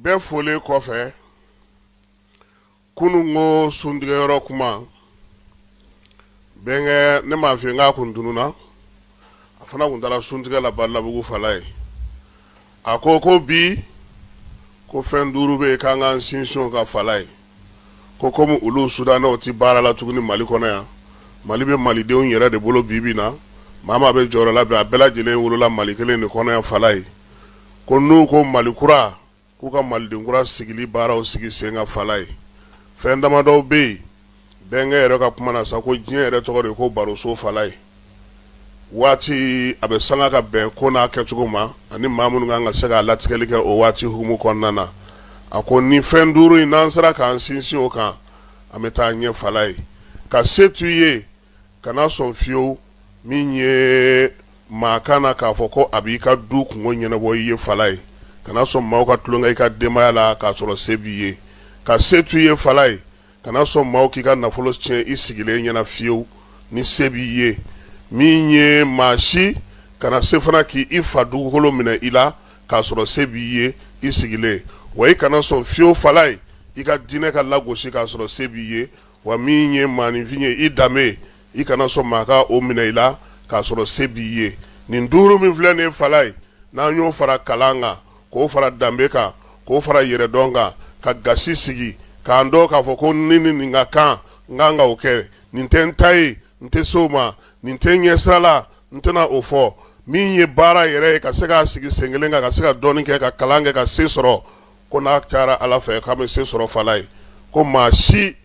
bɛɛ folen kɔfɛ kunun ko suntigɛyɔrɔ kuma bɛnkɛ ne m'a f'i ye n k'a kun tununa a fana kun taara suntigɛ la balabugu fala ye a ko ko bi ko fɛn duuru bɛ yen k'an k'an sinsin o kan fala ye ko kɔmi olu sudanɛw tɛ baara la tuguni mali kɔnɔ yan mali bɛ malidenw yɛrɛ de bolo bi bi na maa maa bɛ jɔyɔrɔ la bi a bɛɛ lajɛlen wolola mali kelen de kɔnɔ yan fala ye ko n'u ko mali kura k'u ka maliden kura sigili baaraw sigi sen ka fala ye fɛn damadɔw bɛ yen bɛnkɛ yɛrɛ ka kuma na sa ko diɲɛ yɛrɛ tɔgɔ de ko baroso fala ye waati a bɛ sanga ka bɛn ko n'a kɛcogo ma ani maa minnu kan ka se k'a latigɛli kɛ o waati hukumu kɔnɔna na a ko ni fɛn duuru in n'an sera k'an sinsin o kan an bɛ taa ɲɛ fala ye ka se to i ye kana sɔn fiyewu min ye maa ka na k'a fɔ ko a b'i ka du kunko ɲɛnabɔ i ye fala ye kana sɔn maaw ka tulonkɛ i ka denbaya la k'a sɔrɔ se b'i ye ka se to i ye fala ye kana sɔn maaw k'i ka nafolo tiɲɛ i sigilen ɲɛna fiyewu ni se b'i ye min ye maa si kana se fana k'i fa dugukolo minɛ i la k'a sɔrɔ se b'i ye i sigilen wa i kana sɔn fiyewu fala ye i ka diinɛ ka lagosi k'a sɔrɔ se b'i ye wa min ye maaninfin ye i danbe i kana sɔn maa ka o minɛ i la k'a sɔrɔ se b'i ye nin duuru min filɛ nin ye fala ye n'an y'o fara kalan kan k'o fara danbe kan k'o fara yɛrɛdɔn kan ka gasi sigi k'an dɔn k'a fɔ ko ni ni nin ka kan n kan ka o kɛ nin tɛ n ta ye n tɛ se o ma nin tɛ n ɲɛ sira la n tɛna o fɔ min ye baara yɛrɛ ye ka se k'a sigi sen kelen kan ka se ka dɔɔnin kɛ ka kalan kɛ ka se sɔrɔ Ko n'a cayara Ala fɛ k'a bɛ se sɔrɔ Fala ye, ko maa si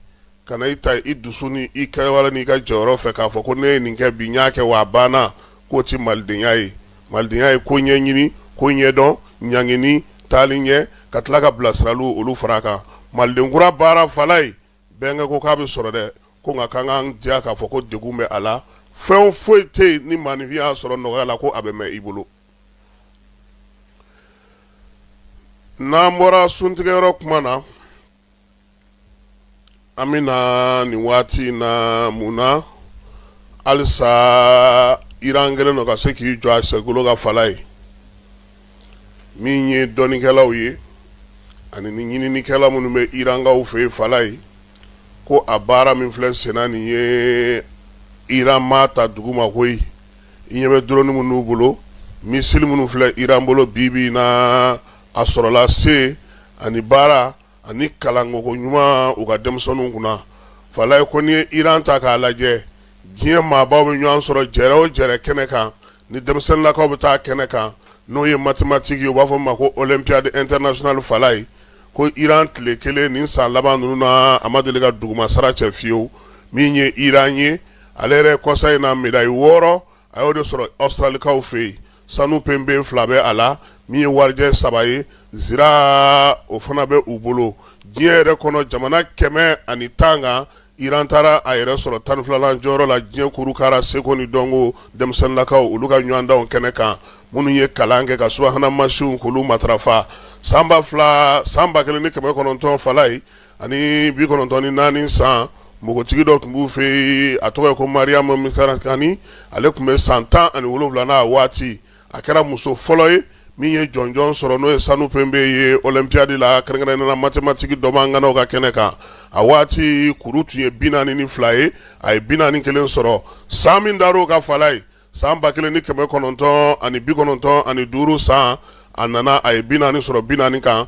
kana i ta i dusu ni i kɛwale n'i ka jɔyɔrɔ fɛ k'a fɔ ko ne ye nin kɛ bi n y'a kɛ wa a banna, k'o tɛ malidenya ye. Malidenya ye ko ɲɛɲini, ko ɲɛdɔn, ɲangini, taali ɲɛ, ka tila ka bilasiraliw olu fara a kan. Maliden kura baara Fala ye, Bɛnkɛ ko k'a bɛ sɔrɔ dɛ, ko nka k'an k'an diya k'a fɔ ko degun bɛ a la, fɛn foyi tɛ yen ni maaninfin y'a sɔrɔ nɔgɔya la ko a bɛ mɛn i bolo. n'an bɔra suntigɛyɔrɔ kuma na an bɛ na nin waati in na mun na halisa iran kɛlen don ka se k'i jɔ a senkolo kan fala ye min ye dɔnnikɛlaw ye ani ni ɲininikɛla minnu bɛ irankaw fɛ yen fala ye ko a baara min filɛ senna nin ye iran m'a ta duguma koyi i ɲɛ bɛ drone minnu n'u bolo missile minnu filɛ Iran bolo bi bi in na, a sɔrɔla se ani baara ani kalanko ɲuman u ka denmisɛnninw kunna. Falaye ko n'i ye Iran ta k'a lajɛ, diɲɛ maabaw bɛ ɲɔgɔn sɔrɔ jɛrɛ o jɛrɛ kɛnɛ kan, ni denmisɛnninlakaw bɛ taa kɛnɛ kan, n'o ye mathématique ye, u b'a fɔ min ma ko Olympiade internationale Falaye ko Iran tile kelen nin san laban ninnu na, a ma deli ka duguma sara cɛ fiyewu, min ye Iran ye. ale yɛrɛ kɔsa in na médaille wɔɔrɔ a y'o de sɔrɔ awstralikaw fɛ yen sanu pembe fila bɛ a la min ye warijɛ saba ye zira o fana bɛ u bolo diɲɛ yɛrɛ kɔnɔ jamana kɛmɛ ani tan kan iran taara a yɛrɛ sɔrɔ tan filala jɔyɔrɔ la diɲɛ kurukara seko ni dɔnko denmisɛnninlakaw olu ka ɲɔgɔndanw kɛnɛ kan minnu ye kalan kɛ ka subahana mansinw k'olu matarafa san ba fila san ba kelen ni kɛmɛ kɔnɔntɔn falaye ani bi kɔnɔntɔn ni naani san npogotigi dɔ tun b'u fɛ yen a tɔgɔ ye ko mariam mikarakani ale tun bɛ san tan ani wolonwula na a waati a kɛra muso fɔlɔ ye min ye jɔnjɔn sɔrɔ n'o ye sanu pembe ye olympiade la kɛrɛnkɛrɛnnenya mathématique dɔnbaa ŋanaw ka kɛnɛ kan a waati kuru tun ye bi naani ni fila ye a ye bi naani kelen sɔrɔ san min dara o kan falaye san ba kelen ni kɛmɛ kɔnɔntɔn ani bi kɔnɔntɔn ani duuru san a nana a ye bi naani sɔrɔ bi naani kan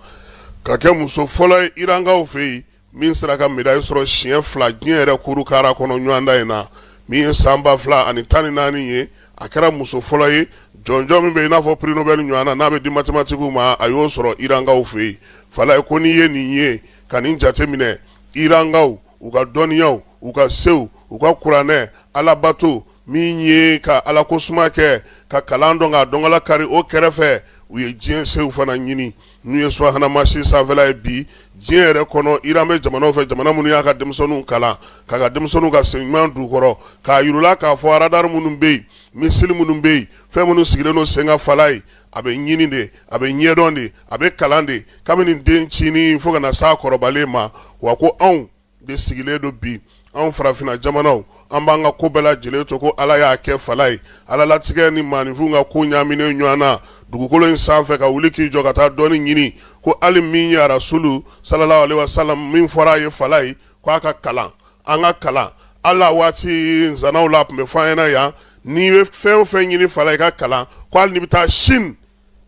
ka kɛ muso fɔlɔ ye irankaw fɛ yen min sera ka médaille sɔrɔ siɲɛ fila diɲɛ yɛrɛ kurukara kɔnɔ ɲɔgɔndan in na min ye san ba fila ani tan ni naani ye a kɛra muso fɔlɔ ye jɔnjɔn min bɛ i n'a fɔ prix nobel ɲɔgɔn na n'a bɛ di mathématiquew ma a y'o sɔrɔ irankaw fɛ yen falaye ko n'i ye nin ye ka nin jateminɛ irankaw u ka dɔnniyaw u ka sew u ka kuranɛ alabato min ye ka ala ko suma kɛ ka kalan dɔn ka dɔnkala kari o kɛrɛfɛ u ye diɲɛ sew fana ɲini n'u ye subahana mansin sanfɛla ye bi diɲɛ yɛrɛ kɔnɔ iran bɛ jamanaw fɛ jamana minnu y'a ka denmisɛnninw kalan k'a ka denmisɛnninw ka sen ɲuman d'u kɔrɔ k'a yir'u la k'a fɔ radar minnu bɛ yen missile minnu bɛ yen fɛn minnu sigilen don sen kan falaye a bɛ ɲini de a bɛ ɲɛdɔn de a bɛ kalan de kabini dencinin fo ka na s'a kɔrɔbalen ma wa ko anw de sigilen don bi anw farafinna jamanaw an b'an ka ko bɛɛ lajɛlen to ko ala y'a kɛ falaye ala latigɛ ni maaninfinw ka ko ɲaaminen ɲɔgɔn na dugukolo in sanfɛ ka wuli k'i jɔ ka taa dɔnni ɲini ko hali min ye arasulu sallallahu alaihi wasallam min fɔra a ye falaye ko a ka kalan an ka kalan an na waati nsanaw la tun bɛ fɔ an ɲɛna yan n'i bɛ fɛn o fɛn ɲini falaye i ka kalan ko hali n'i bɛ taa sini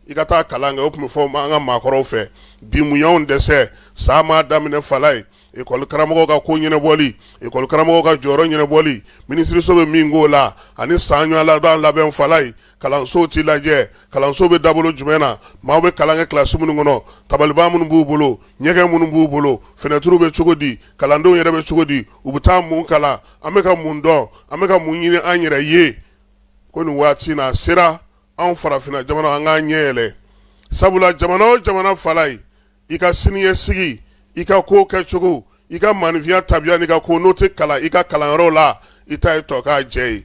i ka taa kalan kɛ o tun bɛ fɔ an ka maakɔrɔw fɛ bi mun y'anw dɛsɛ san ma daminɛ falayi ekɔli karamɔgɔ ka ko ɲɛnabɔli ekɔli karamɔgɔ ka jɔyɔrɔ ɲɛnabɔli minisiriso bɛ min k'o la ani san ɲɔgɔndan labɛn falayi kalansow tɛ lajɛ kalanso bɛ dabolo jumɛn na maaw bɛ kalan kɛ kilasi minnu kɔnɔ tabaliban minnu b'u bolo ɲɛgɛn minnu b'u bolo finɛtiriw bɛ cogo di kalandenw yɛrɛ bɛ cogo di u bɛ taa mun kalan an bɛ ka mun dɔn an bɛ ka mun ɲini an yɛrɛ ye ko nin waati na sera anw farafinna jamana an k'an ɲɛ yɛlɛ sabula jamana o jamana falayi i ka siniɲɛsigi i ka ko kɛcogo i ka maaninfinya tabiya n'i ka ko n'o tɛ kalan i ka kalanyɔrɔ la i ta ye tɔkajɛ ye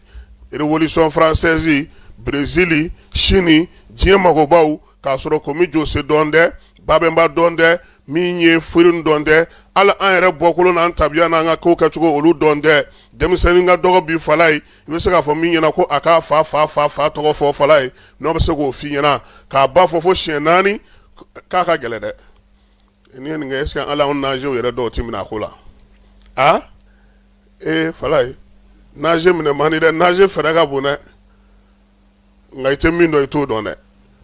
rewolisɔn faransɛzi brezili sini diɲɛ mɔgɔbaw k'a sɔrɔ komi jose dɔn tɛ babɛnba dɔn tɛ min ye firun dɔn tɛ hali an yɛrɛ bɔkolo n'an tabiya n'an ka ko kɛcogo olu dɔn tɛ denmisɛnnin ka dɔgɔ bi falayi i bɛ se k'a fɔ min ɲɛna ko a k'a fa fa fa fa tɔgɔ fɔ falayi n'o bɛ se k'o f'i ɲɛna k'a ba fɔ fo siyɛn naani k'a ka gɛlɛn dɛ n'i ye nin kɛ est-ce que ala nazew yɛrɛ dɔw tɛ minɛ a ko la a ee falayi naze minɛ man di dɛ naze fɛɛrɛ ka bon dɛ nka i tɛ min dɔn i t'o dɔn dɛ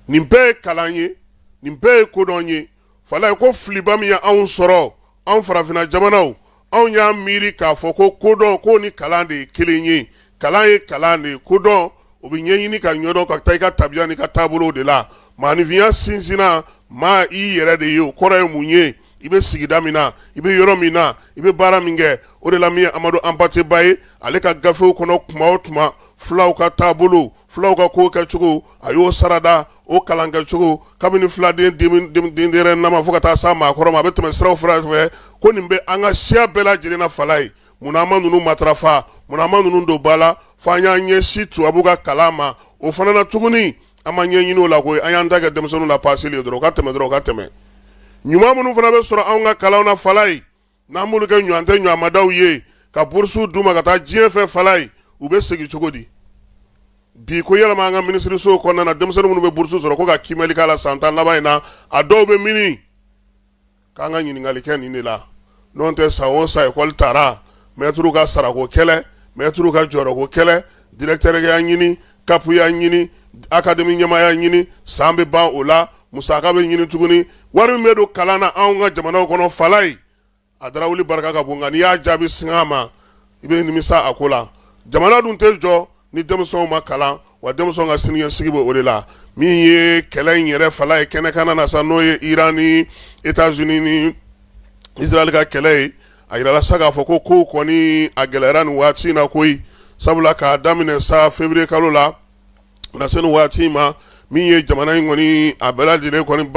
nin bɛɛ ye kalan ye nin bɛɛ ye kodɔn ye falayi ko filiba min ye anw sɔrɔ anw farafinna jamanaw anw y'a miiri k'a fɔ ko kodɔn ko ni kalan de ye kelen ye kalan ye kalan de ye kodɔn o bɛ ɲɛɲini ka ɲɛdɔn ka taa i ka tabiya n'i ka taabolow de la maaninfinya sinsinna maa i yɛrɛ de ye o kɔrɔ ye mun ye i bɛ sigida min na i bɛ yɔrɔ min na i bɛ baara min kɛ o de la min ye amadu hanpate ba ye ale ka gafew kɔnɔ tuma o tuma fulaw ka taabolo fulaw ka ko kɛcogo a y'o sarada o kalan kɛcogo kabini filaden denyɛrɛnama fo ka taa s'a maakɔrɔ ma a bɛ tɛmɛ sira fara fɛ ko nin bɛ an ka siya bɛɛ lajɛlen na falayi munna an ma ninnu matarafa munna an ma ninnu don ba la fo an y'an ɲɛsin tubabu ka kalan ma o fana na tuguni an ma ɲɛɲini o la koyi an y'an ta kɛ denmisɛnninw lapaseli dɔrɔn u ka tɛmɛ dɔrɔn u ka tɛmɛ ɲuman minnu fana bɛ sɔrɔ an ka kalan na falayi N'an b'olu kɛ ɲɔgɔn tɛ ɲɔgɔnmadaw ye ka burusuw d'u ma ka taa diɲɛ fɛ falayi u bɛ segin cogo di bi ko yɛlɛma an ka minisirisow kɔnɔna na denmisɛnnin minnu bɛ burusu sɔrɔ ko ka kiimɛli k'a la san tan laban in na a dɔw bɛ mini k'an ka ɲininkali kɛ nin de la n'o tɛ san o san ekɔli taara mɛtiriw ka sarako kɛlɛ mɛtiriw ka jɔyɔrɔko kɛlɛ dirɛkitɛriya ɲini kapuya ɲini akademi ɲɛmaaya ɲini san bɛ ban o la musaka bɛ ɲini tuguni wari min bɛ don kalan na anw ka jamanaw kɔnɔ falayi a darawuli barika ka bon nka n'i y'a jaabi sang'a ma i bɛ nimisa a ko la jamana dun tɛ jɔ ni denmisɛnw ma kalan wa denmisɛn ka siniɲɛsigi bɛ o de la min ye kɛlɛ in yɛrɛ falayi kɛnɛkan na sa n'o ye iran ni etazini ni isirayɛli ka kɛlɛ ye a jirala sa k'a fɔ ko kow kɔni a gɛlɛyara nin waati in na koyi sabula k'a daminɛ sa février kalo la na se nin waati in ma min ye jamana in kɔni a bɛɛ lajɛlen kɔni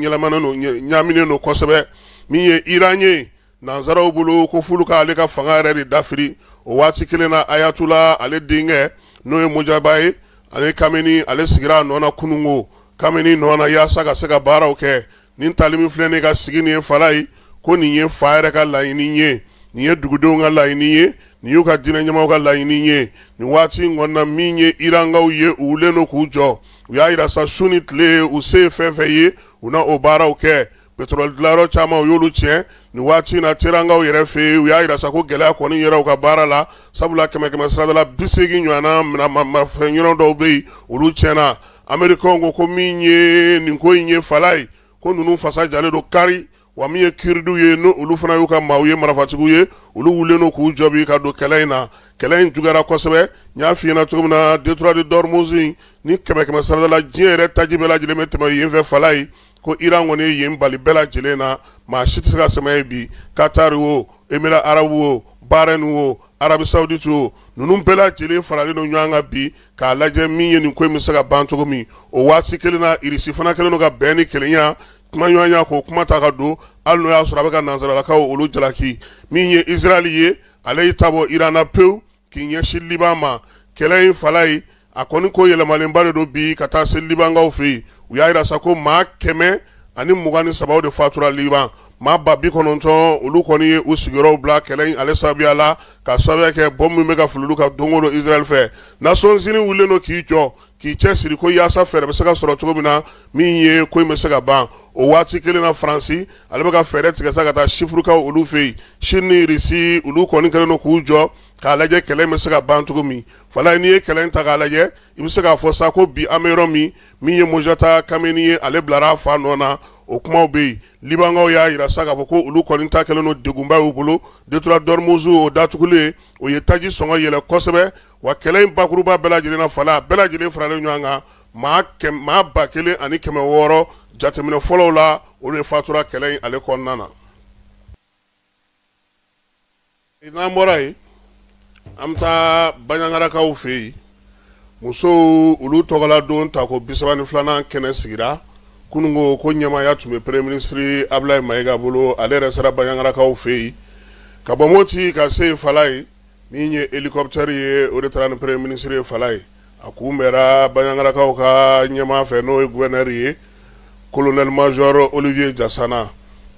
yɛlɛmanen don ɲaaminen don kosɛbɛ min ye iran ye nansaraw bolo ko f'olu ka ale ka fanga yɛrɛ de dafiri o waati kelen na ayatollah ale denkɛ n'o ye mojaba ye ale kameni ale sigira a nɔ na kununko kameni nɔ na yaasa ka se ka baaraw kɛ nin tali min filɛ nin ka sigi nin ye fala ye ko nin ye fa yɛrɛ ka laɲini ye nin ye dugudenw ka laɲini ye nin y'u ka diinɛ ɲɛmaaw ka laɲini ye nin waati in kɔnɔna min ye irankaw ye u wulen don k'u jɔ u y'a jira sa su ni tile u se ye fɛn fɛn ye u na o baaraw kɛ pétrole dilanyɔrɔ caman u y'olu tiɲɛ nin waati in na terankaw yɛrɛ fɛ yen u y'a jira sa ko gɛlɛya kɔni yɛrɛ u ka baara la sabula kɛmɛ kɛmɛ sarada la bi seegin ɲɔgɔnna marafɛn yɔrɔ dɔw bɛ yen olu tiɲɛna amerikaw ko ko min ye nin ko in ye fala ye ko ninnu fasa jalen don kari wa min ye kuridi ye n'olu fana y'u ka maaw ye marafatigiw ye olu wulen don k'u jɔ bi ka don kɛlɛ in na kɛlɛ in juguyara kosɛbɛ n y'a fɔ i ɲɛna cogo min na détroit de dormuz ni kɛmɛ kɛmɛ sarada la diɲɛ yɛrɛ taji bɛɛ lajɛlen bɛ tɛmɛ yen fɛ fala ye ko iran kɔni ye yen bali bɛɛ lajɛlen na maa si tɛ se ka tɛmɛ yen bi qatar wo émirats arabes wo bahreïn wo arabie saoudite wo ninnu bɛɛ lajɛlen faralen don ɲɔgɔn kan bi k'a lajɛ min ye nin ko in bɛ se ka ban cogo min o waati kelen na irisi fana kɛlen don ka bɛn ni kelenya kumaɲɔgɔnya k'o kuma ta ka don hali n'o y'a sɔrɔ a bɛ ka nansaralakaw olu jalaki min ye israël ye ale y'i ta bɔ iran na pewu k'i ɲɛsin liban ma kɛlɛ in fala ye a kɔni ko yɛlɛmalenba de don bi ka taa se libankaw fɛ yen u y'a jira sa ko maa kɛmɛ ani mugan ni saba de fatura liban maa ba bi kɔnɔntɔn olu kɔni ye u sigiyɔrɔw bila kɛlɛ in ale sababuya la ka sababuya kɛ bɔmu min bɛ ka fili olu kan don o don israël fɛ nations unies wulilen don k'i jɔ k'i cɛsiri ko yaasa fɛɛrɛ bɛ se ka sɔrɔ cogo min na min ye ko in bɛ se ka ban o waati kelen na faransi ale bɛ ka fɛɛrɛ tigɛ sa ka taa sipurukaw olu fɛ yen chine ni russie olu kɔni kɛlen don k'u jɔ k'a lajɛ kɛlɛ bɛ se ka ban cogo min fala n'i ye kɛlɛ ta k'a lajɛ i bɛ se k'a fɔ sa ko bi an bɛ yɔrɔ min min ye mojata kameni ye ale bilara a fa nɔ na o kumaw bɛ yen Libankaw y'a jira sa k'a fɔ ko olu kɔni ta kɛlen don degunba y'u bolo détroit dormuz o datugulen o ye taji sɔngɔ yɛlɛ kosɛbɛ wa kɛlɛ in bakuruba bɛɛ lajɛlen na fala a bɛɛ lajɛlen faralen ɲɔgɔn kan maa ba kelen ani kɛmɛ wɔɔrɔ jateminɛ fɔlɔw la olu de fatura kɛlɛ in ale kɔnɔna na N'an bɔra yen an bɛ taa baɲagarakaw fɛ yen musow olu tɔgɔla don ta ko bi saba ni filanan kɛnɛ sigira kunun ko ko ɲɛmaaya tun bɛ premier ministre ablaye mayiga bolo ale yɛrɛ sera baɲagarakaw fɛ yen ka bɔ moti ka se yen fala ye min ye hélicoptère ye o de taara ni premier ministre ye a kunbɛra baɲangarakaw ka ɲɛmaa fɛ n'o ye gouverneur ye colonel major Olivier Jasana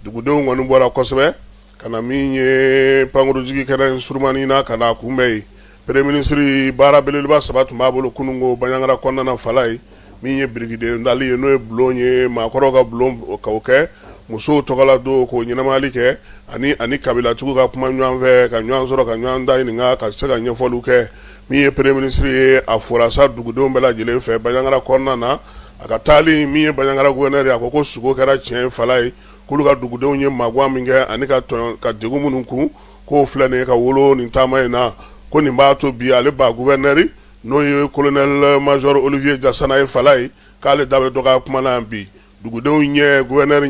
dugudenw kɔni bɔra kosɛbɛ ka na min ye pankurujigi kɛnɛ surunmani na ka na a kunbɛn yen Premier ministre baara belebeleba saba tun b'a bolo kunun ko baɲangara kɔnɔna fala ye min ye birikiden dali ye n'o ye bulon ye maakɔrɔw ka bulon ka kɛ musow tɔgɔla don k'o ɲɛnamayali kɛ ani ani kabilatigiw ka kuma ɲɔgɔnfɛ ka ɲɔgɔn sɔrɔ ka ɲɔgɔn da ɲininka ka se ka ɲɛfɔliw kɛ Min ye Premier ministre ye a fora sa dugudenw bɛɛ lajɛlen fɛ bajangara kɔnɔna na a ka taali min ye bajangara gouverneur ye a ko ko sugo kɛra tiɲɛ ye fala ye k'olu ka dugudenw ye magwan min kɛ ani ka to ka degun minnu kun k'o filɛ nin ye ka wolo nin taama in na ko nin b'a to bi ale ba gouverneur n'o ye colonel major Olivier Jasana ye fala ye k'ale da bɛ dɔgɔya kuma na yan bi dugudenw ɲɛ gouverneur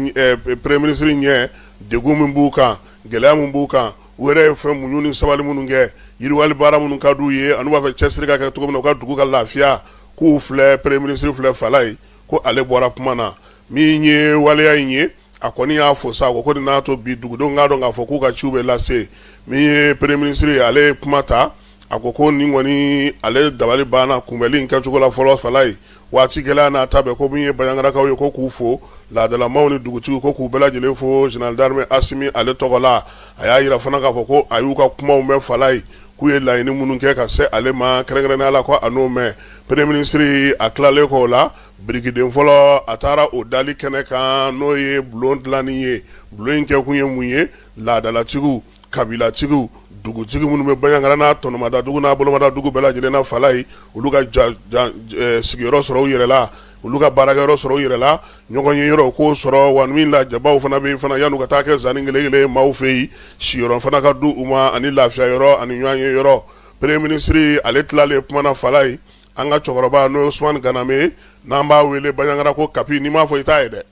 Premier ministre ɲɛ degun min b'u kan gɛlɛya min b'u kan u yɛrɛ ye fɛn muɲu ni sabali minnu kɛ yiriwali baara minnu ka di u ye ani u b'a fɛ cɛsiri ka kɛ cogo min na u ka dugu ka lafiya k'u filɛ Premier ministre filɛ fala ye ko ale bɔra kuma na min ye waleya in ye a kɔni y'a fɔ sa ko nin n'a to bi dugudenw k'a dɔn k'a fɔ k'u ka ciw bɛ lase min ye Premier ministre ye ale ye kuma ta a ko ko nin kɔni ale dabali banna kunbɛnli in kɛcogo la fɔlɔ fala ye waati gɛlɛya n'a ta bɛɛ ko min ye baɲangarakaw ye ko k'u fo laadalamaw ni dugutigi ko k'u bɛɛ lajɛlen fo général d'armée asimi ale tɔgɔ la a y'a yira fana k'a fɔ ko a y'u ka kumaw mɛn fala ye k'u ye laɲini minnu kɛ ka se ale ma kɛrɛnkɛrɛnnenya la ko a n'o mɛn Premier ministre a tilalen kɔ o la birikiden fɔlɔ a taara o dali kɛnɛ kan n'o ye bulon dilanni ye bulon in kɛkun ye mun ye laadalatigiw kabilatigiw dugutigi minnu bɛ baɲangara n'a tɔnɔmadadugu n'a bolomadadugu bɛɛ lajɛlen na fala ye olu ka jan jan ɛ sigiyɔrɔ sɔrɔ u yɛrɛ la olu ka baarakɛyɔrɔ sɔrɔ u yɛrɛ la ɲɔgɔn ye yɔrɔ u k'o sɔrɔ wa min la jabaw fana bɛ yen fana yan'u ka taa kɛ zani ngelengele ye maaw fɛ yen siyɔrɔ fana ka di u ma ani lafiya yɔrɔ ani ɲɔgɔn ye yɔrɔ Premier ministre ale tilalen kuma na fala ye an ka cɛkɔrɔba n'o ye Ousmane Ganame n'an b'a wele baɲangara ko kapi n'i m'a fɔ i t'a ye dɛ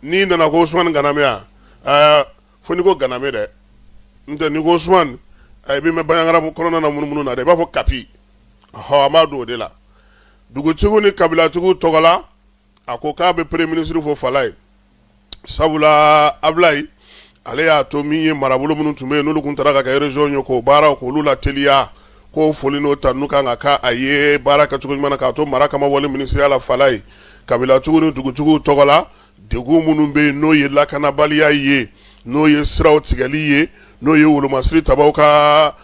n'i nana ko Ousmane Ganame wa ɛɛ fo n'i ko ganame dɛ n tɛ n'i ko Ousmane i bɛ mɛn baɲangara kɔnɔna na munumunu na dɛ i b'a fɔ kapi hɔ an b'a dɔn o de la dugutigiw ni kabilatigiw tɔgɔla a ko k'a bɛ Premier ministre fo fala ye sabula Ablaye ale y'a to min ye marabolo minnu tun bɛ yen n'olu tun taara ka kɛ région ye k'o baaraw k'olu lateliya k'o foli n'o tanu kan k'a ye baara kɛcogo ɲuman k'a to mara kama wale minisiriya la fala ye kabilatigiw ni dugutigiw tɔgɔ la Degun minnu bɛ yen n'o ye lakanabaliya ye n'o ye siraw tigɛli ye n'o ye wolomasiri tabaw ka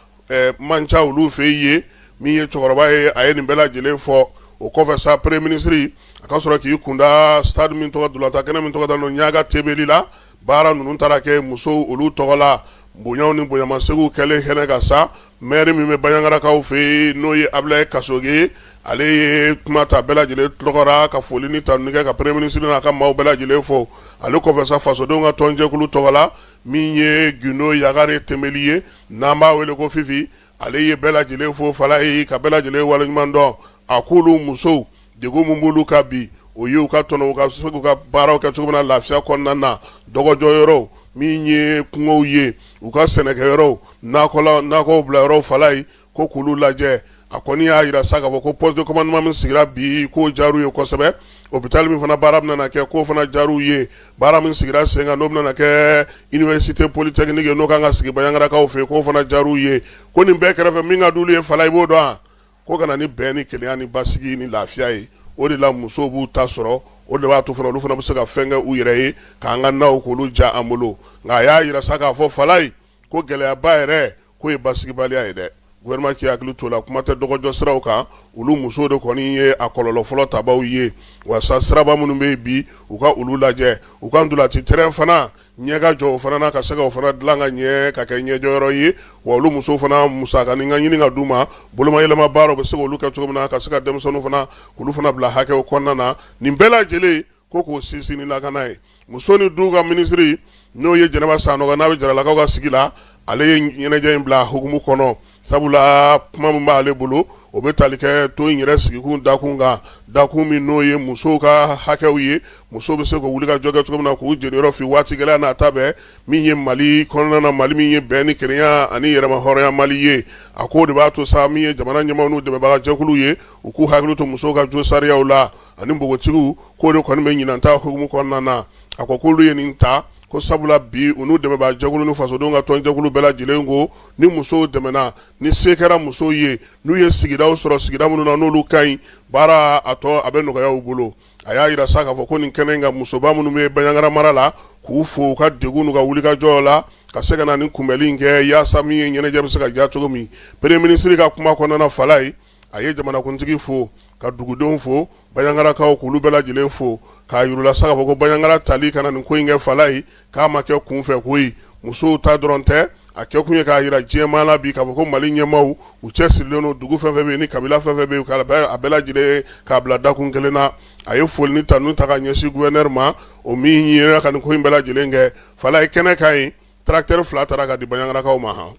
man ca olu fɛ yen min ye cɛkɔrɔba ye a ye nin bɛɛ lajɛlen fɔ o kɔfɛ sa Premier ministre a ka sɔrɔ k'i kun da stade min tɔgɔ ntolatan kɛnɛ min tɔgɔ dalen Niaga Tembely la baara ninnu taara kɛ musow olu tɔgɔ la bonyaw ni bonyamaseginw kɛlen kɛnɛ kan sa Maire min bɛ banyangarakaw fɛ yen n'o ye abulayi kasoge ale ye kuma ta bɛɛ lajɛlen tɔgɔ ra ka foli ni tanuni kɛ ka premier minisiri n'a ka maaw bɛɛ lajɛlen fo ale kɔfɛ sa fasodenw ka tɔnjɛkulu tɔgɔ la min ye gindo yagare tenbeli ye n'an b'a wele ko fifi ale ye bɛɛ lajɛlen fo falaye ka bɛɛ lajɛlen waleɲuman dɔn a ko olu musow Degun min b'olu kan bi o ye u ka tɔn u ka se k'u ka baaraw kɛ cogo min na lafiya kɔnɔna na dɔgɔjɔyɔrɔw min ye kungow ye u ka sɛnɛkɛyɔrɔw nakɔw bila yɔrɔw falaye ko k'olu lajɛ a kɔni y'a yira sa k'a fɔ ko poste de commandement min sigira bi k'o diyar'u ye kosɛbɛ hôpital min fana baara bɛna kɛ k'o fana diyar'u ye baara min sigira sen kan n'o bɛna kɛ université polytechnique ye n'o kan ka sigi banyangarakaw fɛ k'o fana diyar'u ye ko nin bɛɛ kɛrɛfɛ min ka d'olu ye falaye i b'o dɔn wa ko ka na ni bɛn ni kelenya ni basigi ni lafiya ye o de la musow b'u ta sɔrɔ o de b'a to fana olu fana bɛ se ka fɛn kɛ u yɛrɛ ye k'an ka naw k'olu ja an bolo nka a y'a yira sa k'a fɔ falaye ko gɛlɛyaba yɛrɛ k'o ye basigibaliya ye dɛ gouvernement k'i hakili t'o la kuma tɛ dɔgɔjɔ siraw kan olu musow de kɔni ye a kɔlɔlɔ fɔlɔ tabaw ye wa sa siraba minnu bɛ yen bi u ka olu lajɛ u ka ntolati terrain fana ɲɛ ka jɔ o fana na ka se ka o fana dilan ka ɲɛ ka kɛ ɲɛjɔyɔrɔ ye wa olu musow fana musakanin ka ɲini ka d'u ma bolomayɛlɛma baaraw bɛ se k'olu kɛ cogo min na ka se ka denmisɛnninw fana k'olu fana bila hakɛw kɔnɔna na nin bɛɛ lajɛlen ko k'o sinsin ni lakana ye muso ni du ka minisiri n'o ye jɛnɛba sanɔgɔ n'a bɛ jaralakaw ka sigi la ale ye ɲɛnajɛ in bila hukumu kɔnɔ Sabula kuma min b'ale bolo o bɛ tali kɛ to in yɛrɛ sigikun dakun kan dakun min n'o ye musow ka hakɛw ye musow bɛ se ka wulikajɔ kɛ cogo min na k'u jeniyɔrɔ fin waati gɛlɛya n'a ta bɛɛ min ye mali kɔnɔna na mali min ye bɛn ni kelenya ani yɛrɛma hɔrɔnya mali ye a ko o de b'a to sa min ye jamana ɲɛmaaw n'u dɛmɛbagajɛkulu ye u k'u hakili to musow ka josariyaw la ani npogotigiw k'o de kɔni bɛ ɲinan ta hukumu kɔnɔna na a ko k'olu ye nin ta ko sabula bi u n'u dɛmɛbagajɛkulu ni fasodenw ka tɔnjɛkulu bɛɛ lajɛlen ko ni musow dɛmɛna ni se kɛra musow ye n'u ye sigidaw sɔrɔ sigida minnu na n'olu ka ɲi baara a tɔ a bɛ nɔgɔya u bolo a y'a yira sa k'a fɔ ko nin kɛnɛ in kan musoba minnu bɛ banyangara mara la k'u fo u ka degun n'u ka wulikajɔ la ka se ka na nin kunbɛnli in kɛ yaasa min ye ɲɛnajɛ bɛ se ka diya cogo min premier minisiri ka kuma kɔnɔna falaye a ye jamanakuntigi fo ka dugudenw fo banyangarakaw k'olu bɛɛ lajɛlen fo k'a yir'u la sa k'a fɔ ko banyangara tali ka na nin ko in kɛ falaye k'a ma kɛ kunfɛ ko musow ta dɔrɔn tɛ a kɛ kun ye k'a yira diɲɛmaa la bi k'a fɔ ko mali ɲɛmaaw u cɛsirilen don dugu fɛn fɛn ni kabila fɛn fɛn bɛ a bɛɛ lajɛlen k'a bila dakun kelen na a ye foli ni tanuni ta ka ɲɛsin gouverneur ma o min ɲin ka nin ko in bɛɛ lajɛlen kɛ falaye kɛnɛ kan yen tracteur fila tara ka di banyangarakaw ma hɔn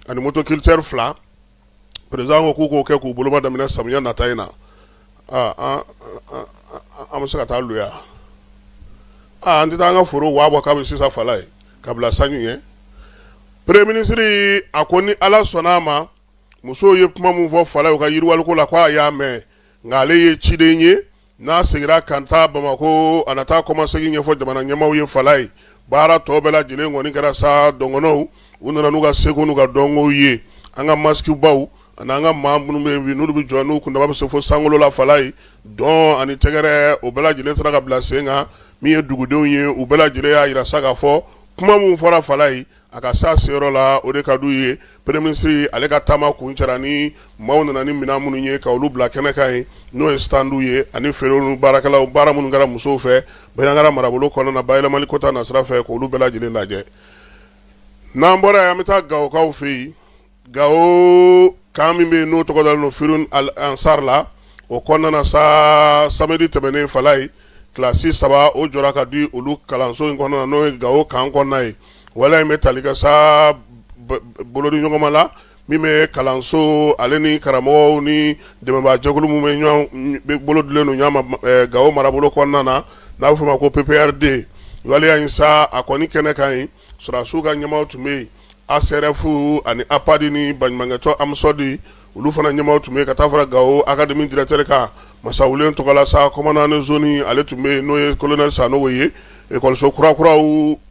ani motoculteur fila président ko k'u k'o kɛ k'u boloba daminɛ samiya nata in na an bɛ se ka taa luya an tɛ taa an ka foro waa bɔ k'a bɛ sisan fala ye ka bila sanji ɲɛ premier ministre a ko ni ala sɔnna a ma musow ye kuma min fɔ fala ye u ka yiriwaliko la k'a y'a mɛn nka ale ye ciden ye n'a seginna ka taa bamakɔ a na taa kɔmasegin ɲɛfɔ jamana ɲɛmaaw ye fala ye baara tɔ bɛɛ lajɛlen kɔni kɛra sa dɔgɔnɔw u nana n'u ka seko n'u ka dɔnkow ye an ka masiki baw ani an ka maa minnu bɛ yen n'olu bɛ jɔ n'u kundama bɛ se fo sankolo la fala ye dɔn ani tɛgɛrɛ o bɛɛ lajɛlen sera ka bila sen kan min ye dugudenw ye u bɛɛ lajɛlen y'a yira sa k'a fɔ kuma min fɔra fala ye A ka se a seyɔrɔ la o de ka d'u ye premier ministre ale ka taama kuncɛra ni maaw nana ni minɛn minnu ye ka olu bila kɛnɛ kan yen n'o ye stand ye ani feerew ni baarakɛlaw baara minnu kɛra musow fɛ Banjagara marabolo kɔnɔna na bayɛlɛmali ko ta nasira fɛ k'olu bɛɛ lajɛlen lajɛ n'an bɔra yen an bɛ taa Gawokaw fɛ yen Gawo camp min bɛ yen n'o tɔgɔ dalen don Firhoun Al Ansar la, o kɔnɔna na sa samedi tɛmɛnen fala ye classe saba o jɔra ka di olu kalanso in kɔnɔna na n'o ye Gawo camp kɔnɔna ye. Waleya in bɛ tali kɛ sa bolodiɲɔgɔnma la min bɛ kalanso ale ni karamɔgɔw ni dɛmɛnbaa jɛkulu minnu bɛ ɲɔgɔn bolo dilen don ɲɔgɔn ma ɛ Gawo marabolo kɔnɔna na n'a bɛ f'o ma ko PPRD waleya in sa a kɔni kɛnɛ kan yen Sɔrɔdasiw ka ɲɛmaaw tun bɛ yen, ASRF ani APAD ni baɲumankɛtɔn AMSODE olu fana ɲɛmaaw tun bɛ yen, ka taa fara Gawo académie directeur kan Masawule Tɔgɔla sa, commandant de zone ale tun bɛ yen n'o ye colonel Sanogo ye, ekɔliso kura kuraw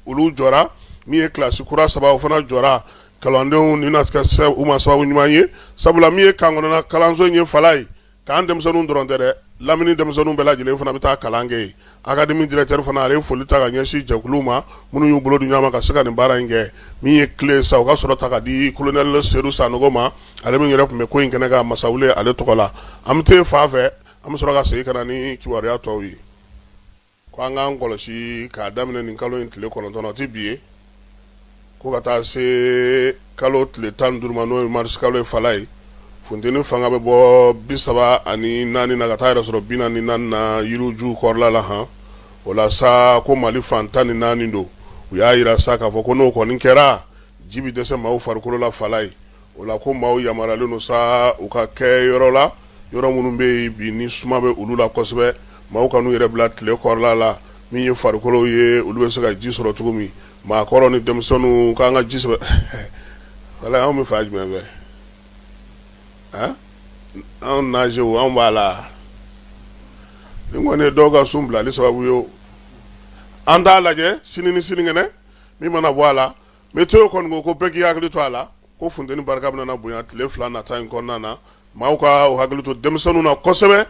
olu jɔra min ye classe kura saba o fana jɔra kalandenw ni na kɛ u ma sababu ɲuman ye, sabula min ye camp kɔnɔna kalanso in ye fala ye K'an denmisɛnninw dɔrɔn tɛ dɛ lamini denmisɛnninw bɛɛ lajɛlen fana bɛ taa kalan kɛ yen académie directeur fana ale ye foli ta ka ɲɛsin jɛkuluw ma minnu y'u bolo di ɲɔgɔn ma ka se ka nin baara in kɛ min ye clé sa u ka sɔrɔ ta ka di colonel Seydou Sanogo ma ale min yɛrɛ tun bɛ ko in kɛnɛ kan Masawule ale tɔgɔ la an bɛ taa fan fɛ an bɛ sɔrɔ ka segin ka na ni kibaruya tɔw ye Ko an k'an kɔlɔsi k'a daminɛ nin kalo in tile kɔnɔntɔn o tɛ bi ye ko ka taa se kalo tile tan duuru ma n'o ye marisi kalo ye fala ye funteni fanga bɛ bɔ bi saba ani naani na ka taa yɛrɛ sɔrɔ bi naani ni naani na yirijuw kɔrɔla la han o la sa ko mali fan tan ni naani don u y'a yira sa k'a fɔ ko n'o kɔni kɛra ji bɛ dɛsɛ maaw farikolo la fala ye O la ko maaw yamaruyalen don sa u ka kɛ yɔrɔ la yɔrɔ minnu bɛ yen bi ni suma bɛ olu la kosɛbɛ maaw kan'u yɛrɛ bila tile kɔrɔla la min ye farikolo ye olu bɛ se ka ji sɔrɔ cogo min maakɔrɔ ni denmisɛnninw k'an ka ji sɛbɛ wala anw bɛ fan jumɛn fɛ a anw naze anw b'a la nin kɔni ye dɔw ka sun bilali sababu ye o an t'a lajɛ sini ni sinikɛnɛ min mana bɔ a la Météo kɔni ko ko bɛɛ k'i hakili to a la ko funteni barika bɛ na bonya tile fila nata in kɔnɔna na maaw ka hakili to denmisɛnninw na kosɛbɛ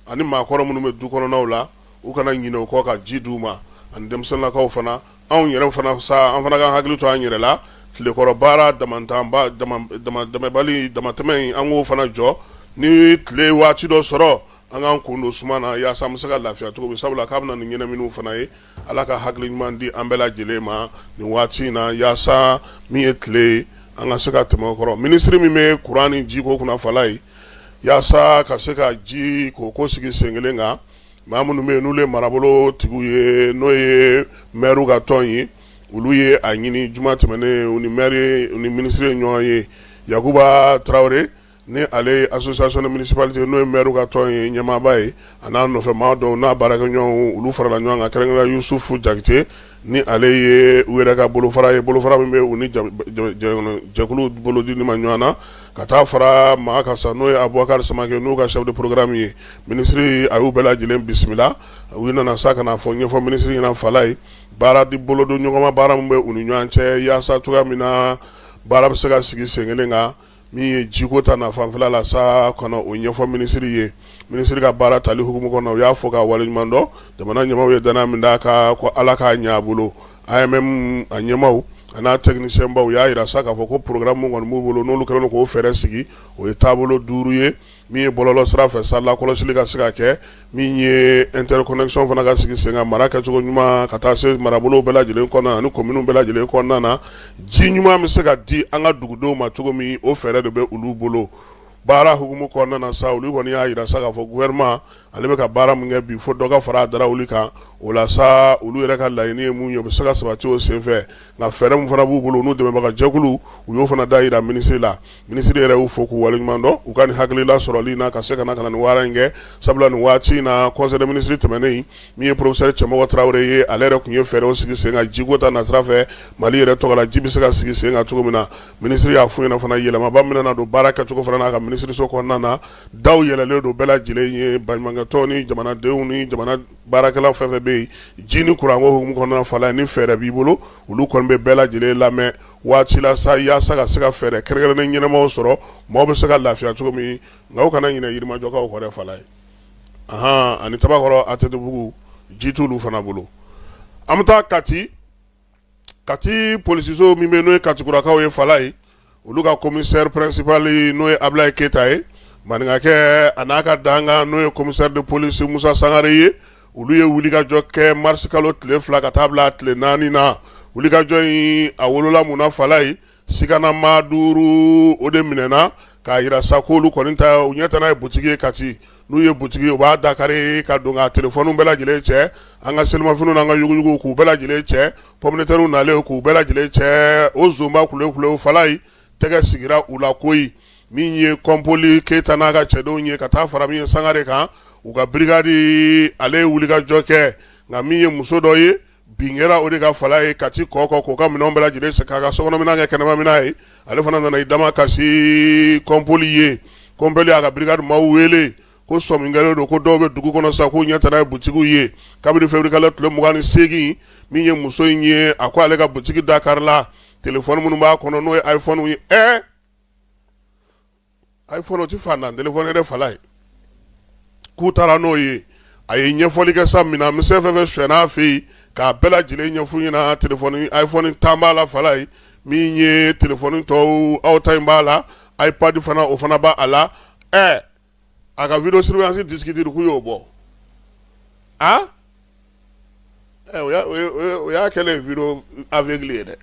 ani maakɔrɔ minnu bɛ du kɔnɔnw la u kana ɲinɛ u kɔ ka ji d'u ma ani denmisɛnninlakaw fana anw yɛrɛ fana an fana ka hakili to an yɛrɛ la tilekɔrɔ baara damabali damatɛmɛ an k'o fana jɔ ni tile waati dɔ sɔrɔ an k'an kun don suma na yaasa an bɛ se ka lafiya cogo min sabula k'a bɛ na ni ɲɛnaminiw fana ye Ala ka hakili ɲuman di an bɛɛ lajɛlen ma nin waati in na yaasa min ye tile ye an ka se ka tɛmɛ o kɔrɔ minisiri min bɛ kuran ni jiko kunna Falaye yaasa ka se ka ji ko ko sigi sen kelen kan maa minnu bɛ yen n'u ye marabolo tigiw ye n'o ye mɛriw ka tɔn ye olu ye a ɲini juma tɛmɛnen u ni mɛri u ni minisiri ye ɲɔgɔn ye Yakuba Tarawele ni ale ye association des municipalités n'o ye maire ka tɔn ye ɲɛmaaba ye a n'a nɔfɛmaa dɔw n'a baarakɛɲɔgɔnw olu farala ɲɔgɔn kan kɛrɛnkɛrɛnnenya Yusufu Jakite ni ale ye u yɛrɛ ka bolofara ye bolofara min bɛ u ni jɛkuluw bolodili ma ɲɔgɔn na ka taa fara maa kan sa n'o ye Abubakari Samake n'u ka chef de programme ye minisiri a y'u bɛɛ lajɛlen bisimila u nana sa ka n'a fɔ ɲɛfɔ minisiri ɲɛna Falaye baara di bolodon ɲɔgɔnma baara min bɛ u ni ɲɔgɔn cɛ yaasa cogoya min na baara bɛ se ka sigi sen kelen kan min ye jiko ta na fanfɛla la sa ka na o ɲɛfɔ minisiri ye minisiri ka baara tali hukumu kɔnɔ u y'a fo k'a waleɲuman dɔn jamana ɲɛmaw ye dannaya min d'a kan ko Ala k'a ɲɛ a bolo AMM a ɲɛmaw a n'a technicienbaw u y'a yira sa k'a fɔ ko programme minnu kɔni b'u bolo n'olu kɛlen k'o fɛɛrɛ sigi o ye taabolo duuru ye min ye bɔlɔlɔ sira fɛ sa lakɔlɔsili ka se ka kɛ min ye interconnexion fana ka sigi sen kan mara kɛcogo ɲuman ka taa se marabolow bɛɛ lajɛlen kɔnɔna ani kominiw bɛɛ lajɛlen kɔnɔna na ji ɲuman bɛ se ka di an ka dugudenw ma cogo min o fɛɛrɛ de bɛ olu bolo baara hukumu kɔnɔna sa olu kɔni y'a yira sa k'a fɔ gouvernement ale bɛ ka baara min kɛ bi fo dɔ ka fara a da wuli kan o la sa olu yɛrɛ ka laɲini ye mun ye u bɛ se ka sabati o senfɛ nka fɛɛrɛ min fana b'u bolo n'u dɛmɛbagajɛkulu u y'o fana da yira minisiri la minisiri yɛrɛ y'u fo k'u waleɲuman dɔn u ka nin hakilila sɔrɔli na ka se ka na nin baara in kɛ sabula nin waati in na conseil des ministres tɛmɛnen min ye professeur Cɛmɔgɔ Tarawele ye ale yɛrɛ tun ye fɛɛrɛw sigi sen kan jiko ta nasira fɛ Mali yɛrɛ tɔgɔ la ji bɛ se ka sigi sen kan cogo min na minisiri y'a f'u ɲɛna fana yɛlɛmaba bɛ na don baara kɛcogo fana n'a ka minisiriso kɔnɔna na daw yɛlɛlen don bɛɛ lajɛlen ye baɲumankɛtɔn ni jamanadenw ni jamana baarakɛlaw fɛn fɛn bɛ yen ji ni kuranko hukumu kɔnɔna Falaye ni fɛɛrɛ b'i bolo olu kɔni bɛ bɛɛ lajɛlen lamɛn waati la sa yaasa ka se ka fɛɛrɛ kɛrɛnkɛrɛnnen ɲɛnamaw sɔrɔ maaw bɛ se ka lafiya cogo min nka u kana ɲinɛ Yirimajɔkaw kɔ dɛ Falaye ani Tabakɔrɔ ATTbugu ji t'u fana bolo an bɛ taa Kati kati polisiso min bɛ n'o ye katikurakaw ye falayi olu ka commissaire principal n'o ye abilaye keyita ye maninkakɛ a n'a ka dankan n'o ye commissaire de police musa sangare ye olu ye wulikajɔ kɛ marisikalo tile fila ka taa bila tile naani na wulikajɔ in a wolola mun na falayi Siganamaa duuru o de minɛna k'a jira sa ko olu kɔni ta u ɲɛ tana ye butigi ye Kati, n'u ye butigi ye u b'a da kari ka don ka telefɔniw bɛɛ lajɛlen cɛ, an ka selimafiniw n'an ka yuguyuguw k'u bɛɛ lajɛlen cɛ, pomme de terres nalen k'u bɛɛ lajɛlen cɛ, o nsonba kulew-kulew falayi tɛgɛ sigira u la koyi, min ye Kɔnpoli Keyita n'a ka cɛdenw ye ka taa fara min ye Sangare kan, u ka birigadi ale ye wulikajɔ kɛ, nka min ye muso dɔ ye bin kɛra o de kan falayi kati kɔkɔ k'o ka minɛn bɛɛ lajɛlen san k'a ka sokɔnɔminan kɛ kɛnɛmaminan ye ale fana nana i damakasi kɔnpoli ye kɔnpoli y'a ka birigadi maaw wele ko sɔmi kɛlen don ko dɔw bɛ dugu kɔnɔ sa k'u ɲɛ tana ye butigiw ye kabini feburuyekalo tile mugan ni seegin min ye muso in ye a ko ale ka butigi da karila telefɔni minnu b'a kɔnɔ n'o ye iPhone ye ɛ a ye fɔlɔ tɛ fa dantɛ fɔ ne fa ye k'u taara n'o ye a ye ɲɛfɔli kɛ sa min na mi fɛn fɛ sɛnɛna fɛ yen k'a bɛɛ lajɛlen ɲɛfun ɲɛna a ye tan b'a la fala ye min ye t tɔw aw ta in b'a la a ye padi fana o fana b' a la ɛ a ka vdo surunsi diki duuruugu y'o bɔ a ɛ o y'a o ye o ye o y'a kɛlen ye vidéo aveugle ye dɛ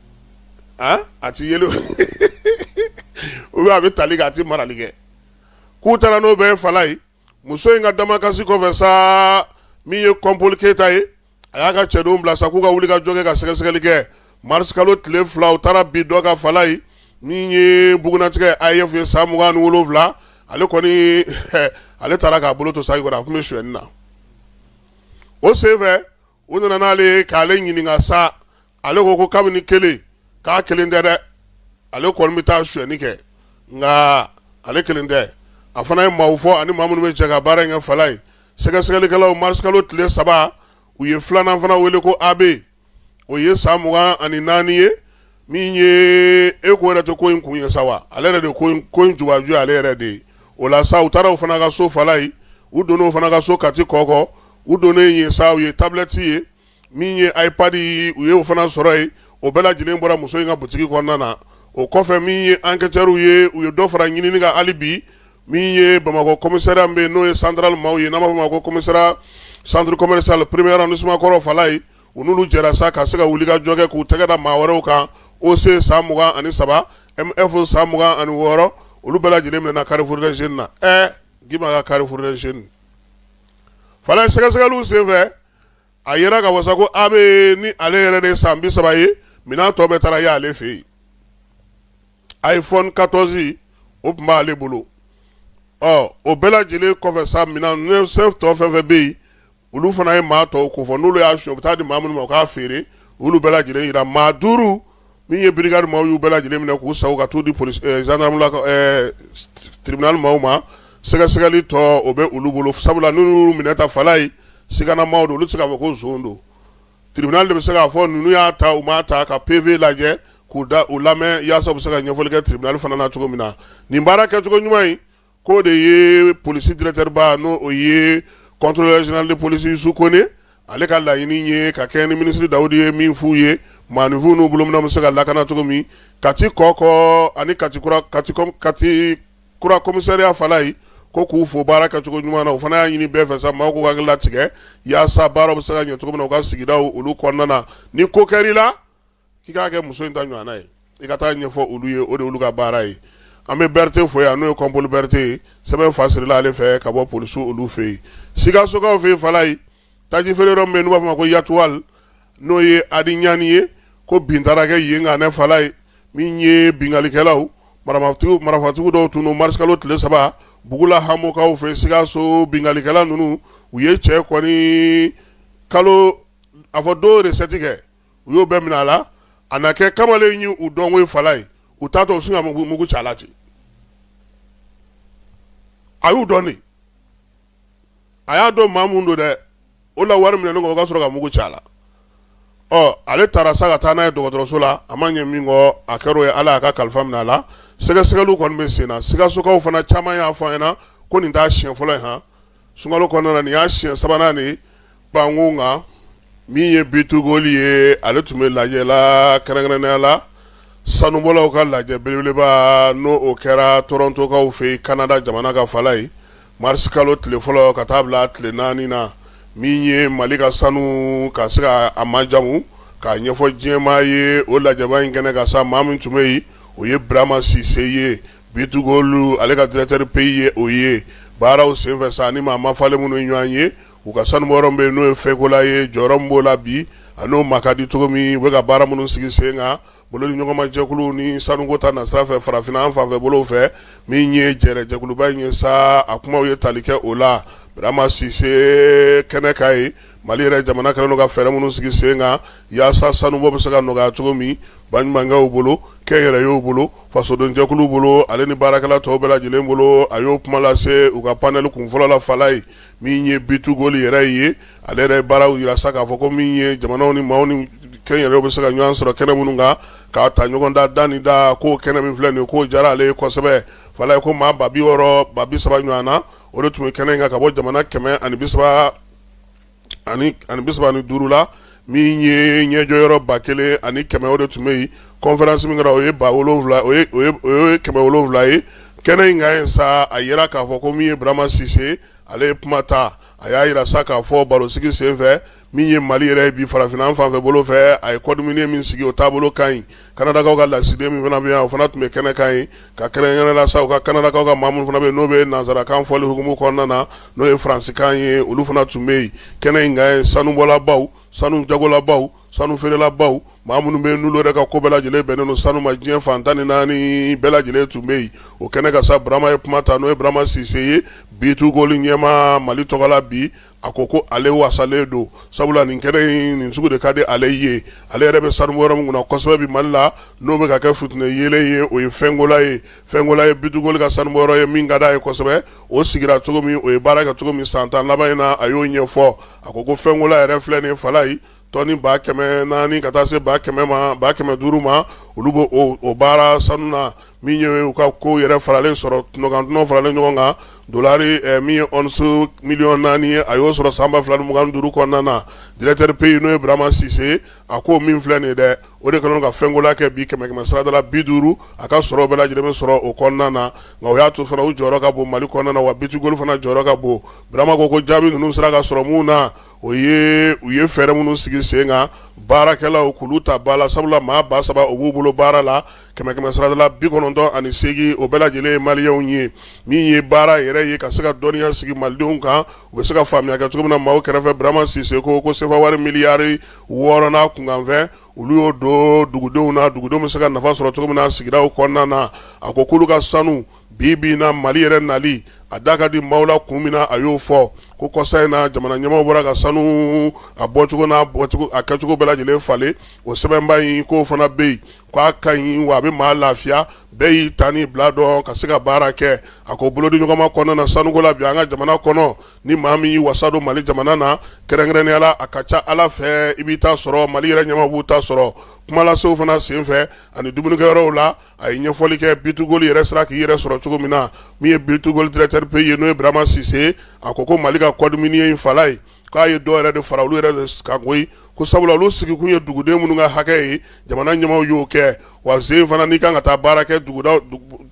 han a ti yeli ou bien a bɛ tali kɛ a tɛ marali kɛ k'u taara n'o bɛɛ ye falayi muso in ka damakasi kɔfɛ sa min ye kɔnpoli keyita ye a y'a ka cɛdenw bila sa k'u ka wulikajɔ kɛ ka sɛgɛsɛgɛli kɛ marisikalo tile fila u taara bin dɔ kan falayi min ye bugunnatigɛ AEF ye san mugan ni wolonwula ale kɔni ale taara k'a bolo to saki kɔrɔ a tun bɛ sonyɛni na o senfɛ u nana n'ale ye k'ale ɲininka sa ale ko ko kabini kelen k'a kelen tɛ dɛ ale kɔni bɛ taa sonyɛni kɛ nka ale kelen tɛ a fana ye maaw fɔ ani maa minnu bɛ jɛ ka baara in kɛ falayi sɛgɛsɛgɛlikɛlaw marisikalo tile saba u ye filanan fana wele ko AB o ye san mugan ani naani ye min ye e ko yɛrɛ tɛ ko in kun ye sa wa ale yɛrɛ de ko in jubaju ale yɛrɛ de ye o la sa u taara o fana ka so falayi u donnen o fana ka so kati kɔkɔ u donnen yen sa u ye tablɛti ye min ye iPad u ye o fana sɔrɔ yen o bɛɛ lajɛlen bɔra muso in ka butigi kɔnɔna na o kɔfɛ min ye enquêteurs ye u ye dɔ fara ɲinini kan hali bi Min ye bamakɔ commissariat min bɛ yen n'o ye central maaw ye n'an b'a fɔ a ma ko commissariat centre commercial premier arrondissement kɔrɔ fala ye u n'olu jɛra sa ka se ka wulikajɔ kɛ k'u tɛgɛ da maa wɛrɛw kan OC san mugan ani saba MF san mugan ani wɔɔrɔ olu bɛɛ lajɛlen minɛna Carrefour des Jeunes na ɛ k'i ma ka Carrefour des Jeunes fala ye sɛgɛsɛgɛli senfɛ a yera ka wasa ko AB nin ale yɛrɛ de san bi saba ye minɛn tɔ bɛɛ taara ye ale fɛ yen iPhone quatorze o tun b'ale bolo ɔ o bɛɛ lajɛlen kɔfɛ sa misɛn tɔ fɛn fɛn bɛ yen olu fana ye maa tɔw kofɔ n'olu y'a suɲɛ u bɛ taa di maa minnu ma u k'a feere olu bɛɛ lajɛlen yira maa duuru min ye brigade maaw y'u bɛɛ lajɛlen minɛ k'u sa ka t'u di police gendarme la tribunal maaw ma sɛgɛsɛgɛli tɔ o bɛ olu bolo sabula n'u minɛta fala ye sigana maaw don olu tɛ se k'a fɔ ko zon don Tribunal de bɛ se k'a fɔ ninnu y'a ta u m'a ta ka PV lajɛ k'u lamɛn yaasa u bɛ se ka ɲɛfɔli kɛ tribunal fana na cogo min na nin baara kɛcogo ɲuman in k'o de ye police directeur ba n'o ye contrôleur général de police Youssou Kone ale ka laɲini ye ka kɛɲɛ ni ministre Dawudi ye min f'u ye maaninfinw n'u bolominɛnw bɛ se ka lakana cogo min Kati Kɔkɔ ani Kati kura Katicom Kati kura commissariat fala ye ko k'u fo baara kɛcogo ɲuman na o fana y'a ɲini bɛɛ fɛ sa maaw k'u hakili latigɛ yaasa baaraw bɛ se ka ɲɛ cogo min na u ka sigidaw olu kɔnɔna na ni ko kɛr'i la k'i k'a kɛ muso in ta ɲɔgɔnna ye i ka taa ɲɛfɔ olu ye o de olu ka baara ye an bɛ berete fo yan n'o ye kɔnpoli berete ye sɛbɛn fasirila ale fɛ ka bɔ polisiw olu fɛ yen sikasokaw fɛ yen fala ye taji feere yɔrɔ min bɛ yen n'u b'a fɔ a ma ko yatuwal n'o ye adi ɲani ye ko bin taara kɛ yen kan ne fala ye min ye binkalikɛlaw marafatigiw dɔw tun don marisikalo tile saba bugula hamokaw fɛ sikaso binkalikɛla ninnu u ye cɛ kɔni kalo a fɔ dɔw recette kɛ u y'o bɛɛ minɛ a la a na kɛ kamalen ye u dɔnko ye fala ye u t'a to u sin ka mugu ci a la ten a y'u dɔn de a y'a dɔn maa mun don dɛ o la wari minɛnen kɔ o ka sɔrɔ ka mugu ci a la ɔ ale taara sa ka taa n'a ye dɔgɔtɔrɔso la a ma ɲɛ min kɔ a kɛr'o ye ala y'a ka kalifa minɛ a la sɛgɛsɛgɛli kɔni bɛ sen na sikasokaw fana caman y'a fɔ an ɲɛ na ko nin t'a siɲɛ fɔlɔ ye h sunkalo kɔnɔna na nin y'a siɲɛ sabanan de ye Banko kan min ye B2Gold ye ale tun bɛ lajɛ la kɛrɛnkɛrɛnnenya la sanubɔlaw ka lajɛ belebeleba n' o kɛra torontokaw fɛ yen kanada jamana kan fala ye marisi kalo tile fɔlɔ ka taa bila tile naani na min ye mali ka sanu ka se k'a majamu k'a ɲɛfɔ diɲɛmaa ye o lajɛba in kɛnɛ kan sa maa min tun bɛ yen o ye burama sise ye B2Gold ale ka directeur pays ye o ye baaraw senfɛ sa ni maa mafalen minnu ye ɲɔgɔn ye u ka sanubɔyɔrɔ bɛ yen n'o ye fɛkola ye jɔyɔrɔ min b'o la bi a n'o ma ka di cogo min u bɛ ka baara minnu sigi sen kan bolodiɲɔgɔnma jɛkulu ni sanuko ta nasira fɛ farafinna an fanfɛ bolo fɛ min ye jɛjɛkuluba in ye sa a kuma ye tali kɛ o la burama sise kɛnɛ kan ye mali yɛrɛ jamana kɛlen ka fɛɛrɛ minnu sigi sen kan walasa sanubɔ bɛ se ka nɔgɔya cogo min ba ɲumanw bolo kɛnyɛrɛyew bolo fasodenjɛkuluw bolo ale ni baarakɛla tɔw bɛɛ lajɛlen bolo a y'o kuma lase u ka panɛli kunfɔlɔ la fala ye min ye bitugoli yɛrɛ ye ale yɛrɛ baaraw yira sa k'a fɔ ko min ye jamanaw ni maaw ni kɛnyɛrɛyew bɛ se ka ɲɔgɔn sɔrɔ kɛnɛ minnu kan k'a ta ɲɔgɔn da da ni da ko kɛnɛ min filɛ nin k'o diyara ale ye kosɛbɛ fala ye ko maa ba bi wɔɔrɔ ba bi saba ɲɔgɔn na o de tun bɛ kɛnɛ in kan ka bɔ jamana kɛmɛ ani bisa ani bi saba ni duuru la min ye ɲɛjɔyɔrɔ ba kelen ani kɛmɛ o de tun bɛ yen kɔnfɛransi min kɛra o ye ba wolonwula o ye kɛmɛ wolonwula ye kɛnɛ in kan ye sa a yira k'a fɔ ko min ye burama sise ale ye kuma ta a y'a yira sa k'a fɔ barosigi senfɛ min ye mali yɛrɛ ye bi farafinna an fan fɛ bolo fɛ a ye code minier min sigi o taabolo ka ɲi Kanadakaw ka lasigiden min fana bɛ yan o fana tun bɛ kɛnɛ kan ye ka kɛrɛnkɛrɛn la sa u ka kanadakaw ka maa minnu fana bɛ n'o bɛ nansarakan fɔli hukumu kɔnɔna na n'o ye faransikan ye olu fana tun bɛ yen kɛnɛ in kan sanubɔlabaw sanu jagolabaw sanu feerelabaw maa minnu bɛ n'olu yɛrɛ ka ko bɛɛ lajɛlen bɛnnen don sanu ma diɲɛ fan tan ni naani bɛɛ lajɛlen tun bɛ yen o kɛnɛ kan sa burama ye kuma ta n'o ye burama sise ye bitugoli ɲɛmaa mali tɔgɔ la bi a ko ko ale wasalen don sabula nin kɛnɛ in nin sugu de ka di ale ye ale yɛrɛ bɛ sanubɔyɔrɔ min kunna kosɛbɛ bi mali la n'o bɛ ka kɛ futinɛ yeelen ye o ye fɛnkola ye fɛnkola ye bitugoli ka sanubɔyɔrɔ ye min ka d'a ye kosɛbɛ o sigira cogo min o ye baara kɛ cogo min san tan laban in na a y'o ɲɛfɔ a ko ko fɛnkola yɛrɛ filɛ nin fala ye Tɔni ba kɛmɛ naani ka taa se ba kɛmɛ ma ba kɛmɛ duuru ma olu bɛ o baara sanu na min ye u ka ko yɛrɛ faralen sɔrɔ kunkan dunanw faralen ɲɔgɔn kan dori min ye ɔnsi miliyɔn naani ye a y'o sɔrɔ san ba fila mugan duuru kɔnɔna na directeur pays n'o ye burama sise a ko min filɛ nin dɛ o de kɛlen ka fɛnkola kɛ bi kɛmɛ kɛmɛ sarada la bi duuru a ka sɔrɔ bɛɛ lajɛlen bɛ sɔrɔ o kɔnɔna na nka o y'a to fana u jɔyɔrɔ ka bon mali kɔnɔna na wa bitugoli fana jɔyɔrɔ ka bon burama ko ko jaabi ninnu sera ka sɔrɔ min na o ye u ye fɛɛrɛ minnu sigi sen kan baarakɛlaw k'olu ta ba la sabula maa ba saba u b'u bolo baara la kɛmɛ kɛmɛ sarada la bi kɔnɔntɔn ani segin o bɛɛ lajɛlen ye maliyɛnw ye min ye baara yɛrɛ ye ka se ka dɔnniya sigi malidenw kan u bɛ se ka faamuya kɛ cogo min na maaw kɛrɛfɛ burama sise ko ko sefa wari miliyari wɔɔrɔ n'a kunkanfɛn olu y'o don dugudenw na dugudenw bɛ se ka nafa sɔrɔ cogo min na sigidaw kɔnɔna na a ko k'olu ka sanu bi bi na mali yɛrɛ nali a da ka di maaw la kun min na a y'o fɔ ko kɔsa in na jamana ɲɛmaaw bɔra ka sanu a bɔcogo n'a a kɛcogo bɛɛ lajɛlen falen o sɛbɛnba in k'o fana bɛ yen k'a ka ɲi wa a bɛ maa lafiya bɛɛ y'i ta ni bila dɔn ka se ka baara kɛ a ko bolodi ɲɔgɔnma kɔnɔna na sanuko la bi an ka jamana kɔnɔ ni maa min y'i wasa don mali jamana na kɛrɛnkɛrɛnnenya la a ka ca ala fɛ i b'i ta sɔrɔ mali yɛrɛ ɲɛmaaw b'u ta sɔrɔ kumalasew fana senfɛ ani dumunikɛyɔrɔw la a ye ɲɛfɔli kɛ B2Gold yɛrɛ sera k'i yɛrɛ sɔrɔ cogo min na min ye B2Gold directeur pays ye n'o ye Burama Sise a ko Mali ka code minier in fala ye k'a ye dɔ yɛrɛ de fara olu yɛrɛ de kan koyi ko sabula olu sigikun ye duguden minnu ka hakɛ ye jamana ɲɛmaaw y'o kɛ wa sen fana n'i kan ka taa baara kɛ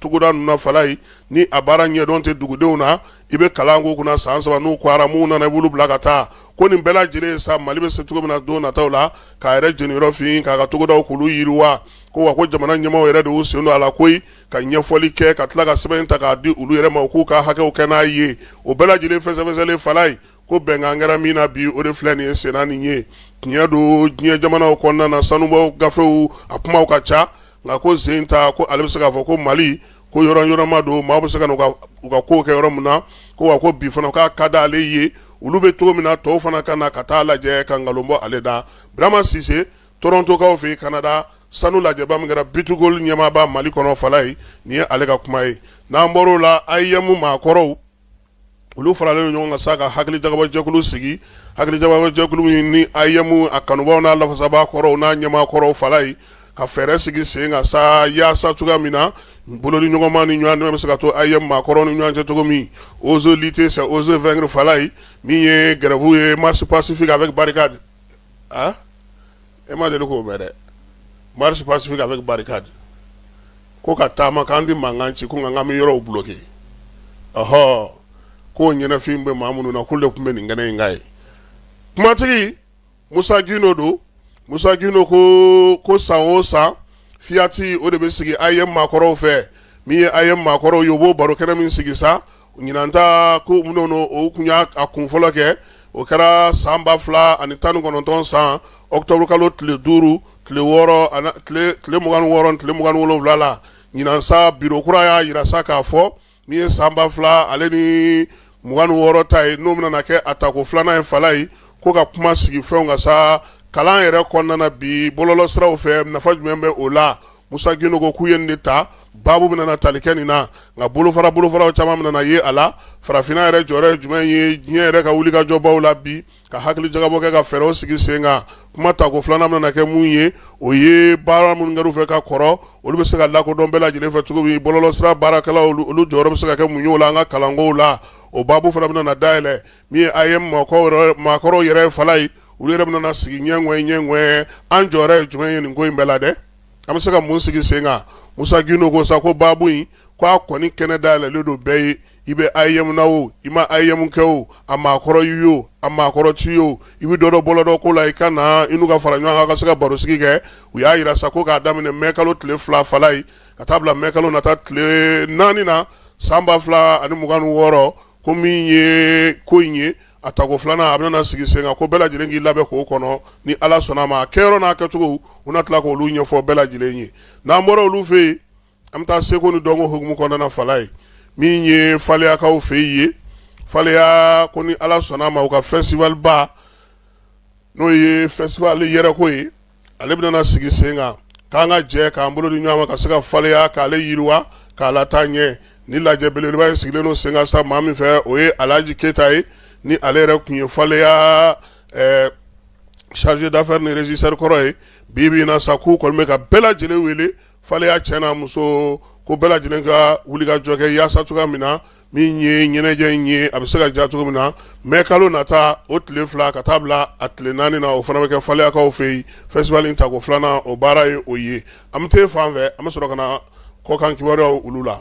togoda ninnu na fala ye ni a baara ɲɛdɔn tɛ dugudenw na i bɛ kalan k'u kunna san saba n'u kɔra minnu nana i b'olu bila ka taa ko nin bɛɛ lajɛlen sa mali bɛ se cogo min na don nataw la k'a yɛrɛ jeniyɔrɔ fin k'a ka togodaw k'olu yiriwa ko wa ko jamana ɲɛmaaw yɛrɛ de y'u sen don a la koyi ka ɲɛfɔli kɛ ka tila ka sɛbɛn ta k'a di olu yɛrɛ ma u k'u ka hakɛw kɛ n'a ye o bɛɛ lajɛlen fɛsɛfɛsɛlen fala ye ko bɛnkan kɛra min na bi o de filɛ nin ye senna nin ye tiɲɛ don diɲɛ jamanaw kɔnɔna na sanubɔ gafew a kumaw ka ca nka ko sen ta ko ale bɛ se k'a fɔ ko mali ko yɔrɔ yɔrɔma don maaw bɛ se ka u ka kow kɛ yɔrɔ min na ko wa ko bi fana k'a ka da ale ye olu bɛ cogo min na tɔw fana ka na ka taa lajɛ ka nkalon bɔ ale da birama sise Torontokaw fɛ yen Canada sanu lajɛba min kɛra B2Gold ɲɛmaaba mali kɔnɔ fala ye nin ye ale ka kuma ye n'an bɔra o la AEEM maakɔrɔw olu faralen ɲɔgɔn kan sa ka hakilijakabɔjɛkulu sigi hakilijakabɔjɛkulu min ni AEEM a kanubaw n'a lafasaba kɔrɔw n'a ɲɛmaa kɔrɔw fala ye ka fɛɛrɛ sigi sen kan sa yaasa cogoya min na bolodi ɲɔgɔnma ni ɲɔgɔn dɛmɛ bɛ se ka to AEEM maakɔrɔw ni ɲɔgɔn cɛ cogo min oser lutter c'est oser vaincre fala ye min ye grève ye marche pacifique avec barricade e ma deli k'o mɛn dɛ marche pacifique avec barricade ko ka taama k'an tɛ mankan ci ko nka k'an bɛ yɔrɔw bloqué ɔhɔ k'o ɲɛnafin bɛ maa minnu na k'u de tun bɛ nin kɛnɛ in kan yen kumatigi Musa Gindo don Musa Gindo ko san o san fiyati o de bɛ sigi AEEM maakɔrɔw fɛ min ye AEEM maakɔrɔw ye o b'o baro kɛnɛ min sigi sa Ɲinan ta ko minnu o tun y'a a kun fɔlɔ kɛ o kɛra san 2000 ani 19 san octobre kalo tile 5 tile 6 tile 26 tile 27 la ɲinan sa biro kura y'a yira sa k'a fɔ min ye san 2000 ale ni 26 ta ye n'o bɛna kɛ a tako filanan ye fala ye ko ka kuma sigi fɛnw kan sa kalan yɛrɛ kɔnɔna na bi bɔlɔlɔsiraw fɛ nafa jumɛn bɛ o la Musa Gindo ko k'u ye nin de ta baabu bɛna na tali kɛ nin na nka bolofara bolofaraw caman bɛna na ye a la farafinna yɛrɛ jɔyɔrɔ ye jumɛn ye diɲɛ yɛrɛ ka wulikajɔbaw la bi ka hakili jagabɔ kɛ ka fɛɛrɛw sigi sen kan kuma tako filanan bɛna na kɛ mun ye o ye baara minnu kɛr'u fɛ ka kɔrɔ olu bɛ se ka lakodɔn bɛɛ lajɛlen fɛ cogo min bɔlɔlɔsira baarakɛlaw olu jɔyɔrɔ bɛ se ka kɛ mun ye o la an ka kalankow la o baabu fana bɛna na dayɛlɛ Min ye AEEM maakɔrɔw yɛrɛ fala ye olu yɛrɛ bɛna sigi ɲɛ ɲɛ ɲɛ an jɔyɔrɔ ye jumɛn ye nin ko in bɛɛ la dɛ an bɛ se ka mun sigi sen kan musa gindo ko sa ko baabu in k' a kɔni kɛnɛ da yɛlɛlen don bɛɛ ye i bɛ AEEM na o i ma AEEM kɛ o a maakɔrɔ y'i o a maakɔrɔ t'i o i bɛ dɔ dɔn bɔlɔlɔ ko la i ka na i n'u ka fara ɲɔgɔn kan ka se ka barosigi kɛ u y'a jira sa ko k'a daminɛ mɛ kalo tile fila fala ye ka taa bila mɛ kalo nata tile naani na san ba fila ani mugan ni wɔɔrɔ ko min ye ko in ye a tako filanan a bɛna sigi sen kan ko bɛɛ lajɛlen k'i labɛn k'o kɔnɔ ni ala sɔnna ma a kɛyɔrɔ n'a kɛcogo u na tila k' olu ɲɛfɔ bɛɛ lajɛlen ye n'an bɔra olu fɛ yen an bɛ taa seko ni dɔnko hukumu kɔnɔna fala ye min ye faleyakaw fɛ yen ye faleya ko ni ala sɔnna ma u ka festival ba n'o ye festival yɛrɛko ye ale bɛna sigi sen kan k'an ka jɛ k'an bolo di ɲɔgɔn ma ka se ka faleya k'ale yiriwa k'a lataa ɲɛ ni lajɛ belebeleba in sigilen don sen kan sa maa min fɛ o ye alaaji keyita ye ni ale yɛrɛ tun ye faleya chargé d'affaires ni régisseur kɔrɔ ye bi bi in na sa k'u kɔni bɛ ka bɛɛ lajɛlen wele faleya cɛ n'a muso ko bɛɛ lajɛlen ka wuli ka jɔ kɛ yaasa cogoya min na min ye ɲɛnajɛ in ye a bɛ se ka diya cogo min na mɛ kalo nata o tile fila ka taa bila a tile naani na o fana bɛ kɛ faleyakaw fɛ yen festival in tako filanan o baara ye o ye an bɛ t'e fan fɛ an bɛ sɔrɔ ka na kɔkan kibaruyaw olu la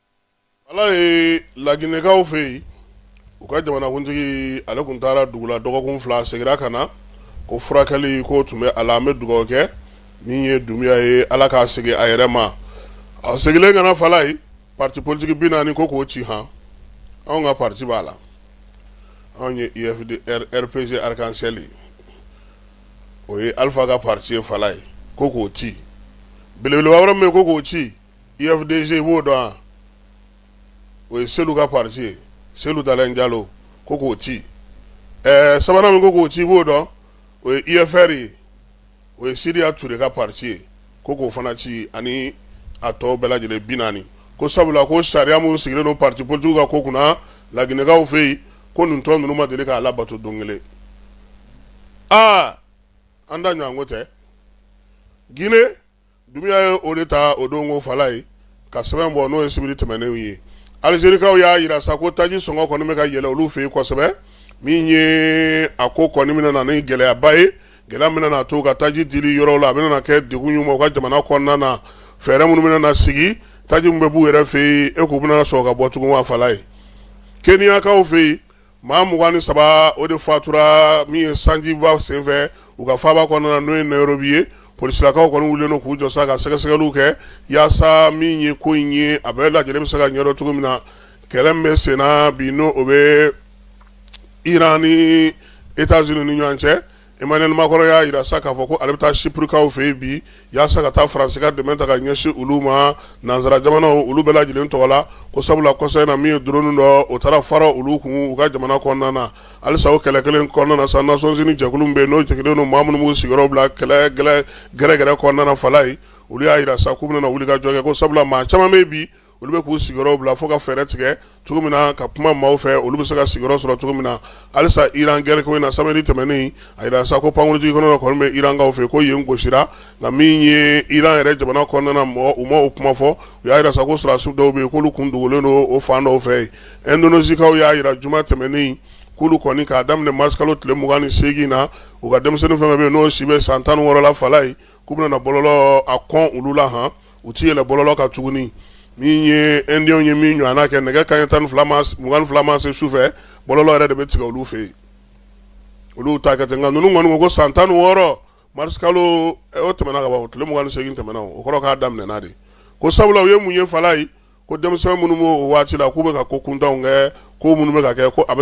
Ala ye laginɛkaw fɛ yen u ka jamanakuntigi ale tun taara dugu la dɔgɔkun fila a seginna ka na ko furakɛli ko tun bɛ a la an bɛ dugawu kɛ min ye dunbuya ye ala k'a segin a yɛrɛ ma a seginnen ka na fala ye pati politigi bi naani ko k'o ci han anw ka pati b'a la anw ye UFD RPG Arc-en-Ciel o ye alifa ka pati ye fala ye ko k'o ci belebeleba wɛrɛ min ko k'o ci UFDG e b'o dɔn o ye selu ka pati ye selu dalen jalo ko k'o ci ɛɛ sabanan min ko k'o ci b'o dɔn o ye UFR ye o ye sidiya ture ka pati ye ko k'o fana ci ani a tɔ bɛɛ lajɛlen bi naani ko sabula ko sariya minnu sigilen don pati politigiw ka ko kunna laginɛkaw fɛ yen ko nin tɔn ninnu ma deli k'a labato don kelen aa an da ɲɔgɔn ko tɛ g Dunbiya ye o de ta o don ko Falaye ka sɛbɛn bɔ n'o ye sibiri tɛmɛnenw ye alizerikaw y'a yira sa ko taji sɔngɔ kɔni bɛ ka yɛlɛ olu fɛ yen kosɛbɛ min ye a ko kɔni bɛna na ni gɛlɛyaba ye gɛlɛya min bɛna na to ka taji dili yɔrɔw la a bɛna kɛ degun ye u ma u ka jamana kɔnɔna na fɛɛrɛ minnu bɛna na sigi taji min bɛ b'u yɛrɛ fɛ yen e k'u bɛna sɔrɔ ka bɔ tugun wa Falaye Keniyakaw fɛ yen maa mugan ni saba o de fatura min ye sanjiba senfɛ u ka faaba kɔnɔna na n'o ye Nairobi ye polisilakaw kɔni wulilen don k'u jɔ sa ka sɛgɛsɛgɛliw kɛ yaasa min ye ko in ye a bɛɛ lajɛlen bɛ se ka ɲɛdɔn cogo min na kɛlɛ min bɛ senna bi n' o bɛ iran ni États-Unis ni ɲɔgɔn cɛ Emmanuel Macron y'a yira sa k'a fɔ ko ale bɛ taa Chyprekaw fɛ yen bi yaasa ka taa Faransi ka dɛmɛ ta ka ɲɛsin olu ma nansara jamanaw olu bɛɛ lajɛlen tɔgɔ la ko sabula kɔsa in na min ye drone dɔ o taara fara olu kun u ka jamana kɔnɔna na halisa o kɛlɛ kelen kɔnɔna na sa Nations Unies jɛkulu min bɛ yen n'o jɛngɛlen don maa minnu b'u sigiyɔrɔ bila kɛlɛ gɛrɛgɛrɛ kɔnɔna na Falaye olu y'a yira sa k'u bɛna wuli ka jɔ kɛ ko sabula maa caman bɛ yen bi olu bɛ k'u sigiyɔrɔ bila fo ka fɛɛrɛ tigɛ cogo min na ka kuma maaw fɛ olu bɛ se ka sigiyɔrɔ sɔrɔ cogo min na halisa iran gɛrɛ ko in na sibiri tɛmɛnen a yira sa ko pankurunjiginkɛnɛ kɔni bɛ irankaw fɛ ko yen gosira nka min ye iran yɛrɛ jamana kɔnɔna mɔgɔ u ma o kuma fɔ u y'a yira sa ko sɔrɔdasiw dɔw bɛ yen k'olu kun dogolen don o fan dɔw fɛ yen Indonezikaw y'a yira juma tɛmɛnen k'olu kɔni k'a daminɛ marisikalo tile mugan ni segin na u ka denmisɛnnin fɛn fɛn bɛ yen n'o si bɛ san tan ni wɔɔrɔ la Falaye k'u bɛna bɔlɔlɔ a kɔn olu la hɔn u tɛ yɛlɛ bɔlɔlɔ kan tuguni min ye Inde ye min ɲɔgɔnna kɛ nɛgɛ kanɲɛ mugan ni fila ma se su fɛ bɔlɔlɔ yɛrɛ de bɛ tigɛ olu fɛ yen olu ta kɛ ten nka ninnu kɔni ko san tan ni wɔɔrɔ marisikalo o tɛmɛna ka o tile mugan ni segin tɛmɛna o kɔrɔ k'a daminɛna de ko sabula u ye mun ye Falaye ko denmisɛnw minnu b' o waati la k'u bɛ ka ko kuntanw kɛ ko minnu bɛ ka kɛ ko a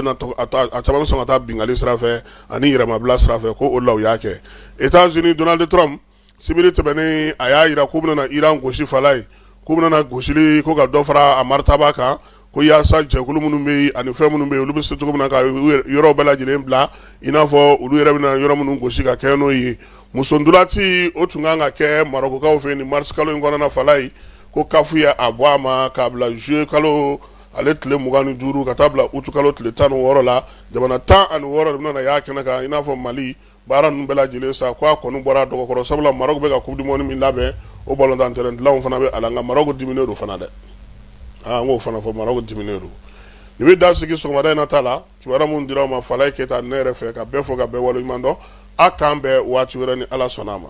caman bɛ sɔn ka taa binkanni sira fɛ ani yɛrɛmabila sira fɛ ko o la u y'a kɛ États-Unis Donald Trump sibiri tɛmɛnen a y'a yira k'u bɛna iran gosi Falaye k'u bɛna gosili ko ka dɔ fara a maritaba kan ko yaasa jɛkulu minnu bɛ yen ani fɛn minnu bɛ yen olu bɛ se cogo min na ka yɔrɔ bɛɛ lajɛlen bila i n'a fɔ olu yɛrɛ bɛna yɔrɔ minnu gosi ka kɛ n'o ye musontolaci o tun kan ka kɛ Marɔkukaw fɛ yen ni marisikalo in kɔnɔna Falaye ko kafu ye a bɔ a ma k'a bila zuye kalo ale tile mugan ni duuru ka taa bila utikalo tile tan ni wɔɔrɔ la jamana tan ani wɔɔrɔ de bɛna y'a kɛnɛ kan i n'a fɔ mali Baara ninnu bɛɛ lajɛlen sa k' a kɔni bɔra dɔgɔkɔrɔ sabula Marɔku bɛ ka coupe du monde min labɛn o balɔntan tɛrɛn dilanw fana bɛ a la nka Marɔku diminen don fana dɛ aa k'o fana fɔ Marɔku diminen don nin bɛ dan sigi sɔgɔmada in na ta la kibaruya minnu dira aw ma Falaye Keyita ne yɛrɛ fɛ ka bɛɛ fo ka bɛɛ wale ɲuman dɔn aw k'an bɛn waati wɛrɛ ni ala sɔnna a ma